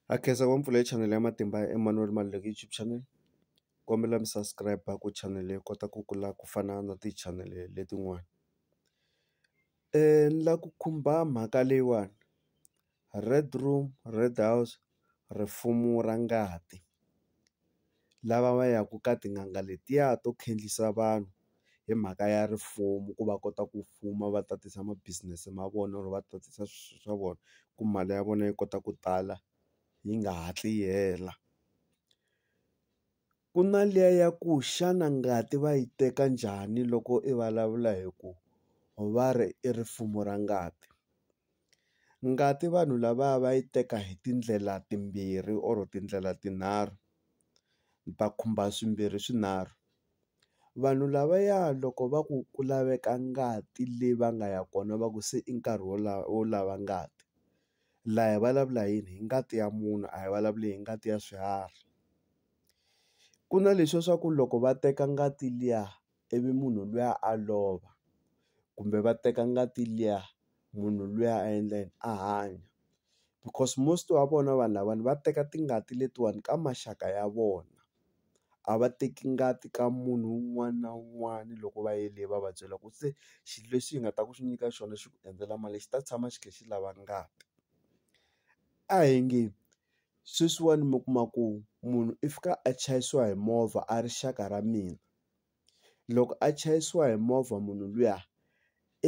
Ha khensa ku va mi pfulele chanele ya Matimba ya Emmanuel Maluleke YouTube channel kombela mi subscribe ku channel leyi kota ku kula ku fana na ti-channel letin'wana ni la ku khumba mhaka leyiwani Red room red house rifumo ra ngati. lava va yaka ka tin'anga letiya to khendzisa vanhu hi mhaka ya rifuwo ku va kota ku fuma va tatisa ma business ma vona or va tatisa swilo swa vona ku mali ya vona yi kota ku tala yi nga hatli yi hela ku na liya ya ku xana ngati va yi teka njhani loko i vulavula hi ku va ri i rifumo ra ngati. Ngati vanhu lavaya va yi teka hi tindlela timbirhi or tindlela tinharhu ni ta khumba swimbirhi swinharhu vanhu lavaya loko va ku ku laveka ngati leyi va nga ya kona va ku se i nkarhi wo lava wo lava ngati la hi vulavula hi yini hi ngati ya munhu a hi vulavuli hi ngati ya swiharhi ku na leswiya swa ku loko va teka ngati liya. ivi munhu luya a lova kumbe va teka ngati liya munhu luya a endla yini a hanya because most wa vona vanhu lavawani va teka tingati letiwani ka maxaka ya vona a va teki ngati ka munhu un'wana na un'wana loko va yele va va byela ku se xilo lexi hi nga ta ku xi nyika xona xi ku endzela mali xi ta tshama xi kha xi lava ngati a hi nge sweswiwani mi kuma ku munhu i fika a chayisiwa hi movha a ri xaka ra mina. loko a chayisiwa hi movha munhu luya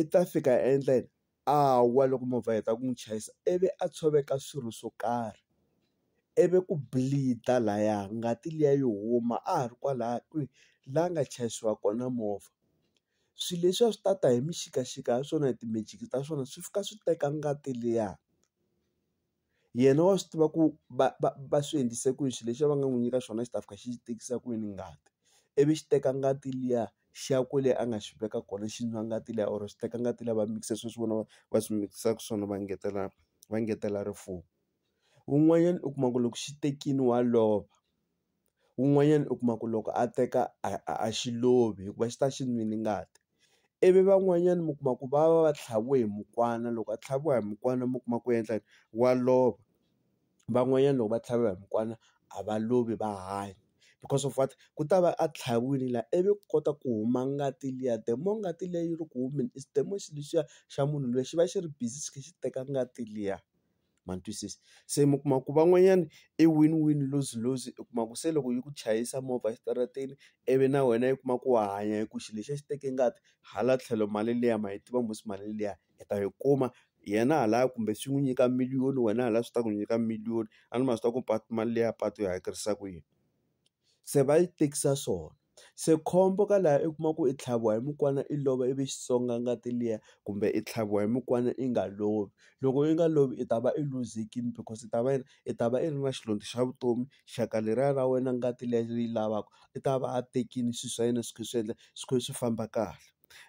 i ta fika a endla yini a wa loko movha yi heta ku n'wi chayisa ivi a tshoveka swirho swo karhi ivi ku bleed-a laya ngati liya yi huma a ha ri kwalaya kwihi la nga chayisiwa kona movha swi leswiya swi ta ta hi mixikaxika ya swona hi ti-magic ta swona swi fika swi teka ngati liya. yena wa swi tiva ku va va va swi endlise ku yini xilo lexi a va nga n'wi nyika xona xi ta fika xi tekisa ku yini ngati ivi xi teka ngati liya xi ya kwale a nga xi veka kona xi nwa ngati liya or xi teka ngati liya va mikisa swilo leswi vona va va swi mikisaka swona va ngetela va ngetela rifuwo wun'wanyana u kuma ku loko xi tekile wa lova. Un'wanyana u kuma ku loko a teka a a a xi lovi hikuva xi ta xi nwile ngati. Ivi van'wanyana mi kuma ku va va va tlhaviwe hi mukwana loko a tlhaviwa hi mukwana mi kuma ku endla yini, wa lova. Van'wanyana loko va tlhaviwa hi mukwana a va lovi va hanya, because of what? Ku ta va a tlhaviwile laha ivi ku kota ku huma ngati liya the more ngati liya yi ri ku humeni is the more xilo lexiya xa munhu luya xi va xi ri busy xi kha xi teka ngati liya. ma ni twisisa se mi kuma ku van'wanyana i win win lose lose u kuma ku se loko yi ku chayisa movha exitarateni ivi na wena yi kuma ku wa hanya hi ku xilo lexi a xi teke ngati hala tlhelo mali liya ma yi tiva mos mali liya hi ta yi kuma yena hala kumbe swi n'wi nyika million wena hala swi ta ku nyika million a ni ma swi tiva ku mali liya patu yi hakerisa ku yini se va yi tekisa swona. se khombo ka laha i kuma ku i tlhaviwa hi mukwana i lova ivi xi songa ngati liya kumbe i tlhaviwa hi mukwana i nga lovi loko i nga lovi i ta va i luzekini because i ta va i ta va i ri na xilondzo xa vutomi xaka leriya ra wena ngati liya yi lavaka i ta va a tekile swilo swa yena swi kha swi endla swi kha swi famba kahle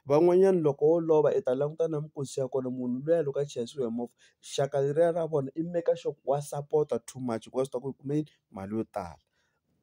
van'wanyana loko wo lova i ta languta na minkosi ya kona munhu luya loko a chayisiwa hi movha xaka leriya ra vona i maker sure ku wa sapota too much hikuva swi tiva ku i kume mali yo tala.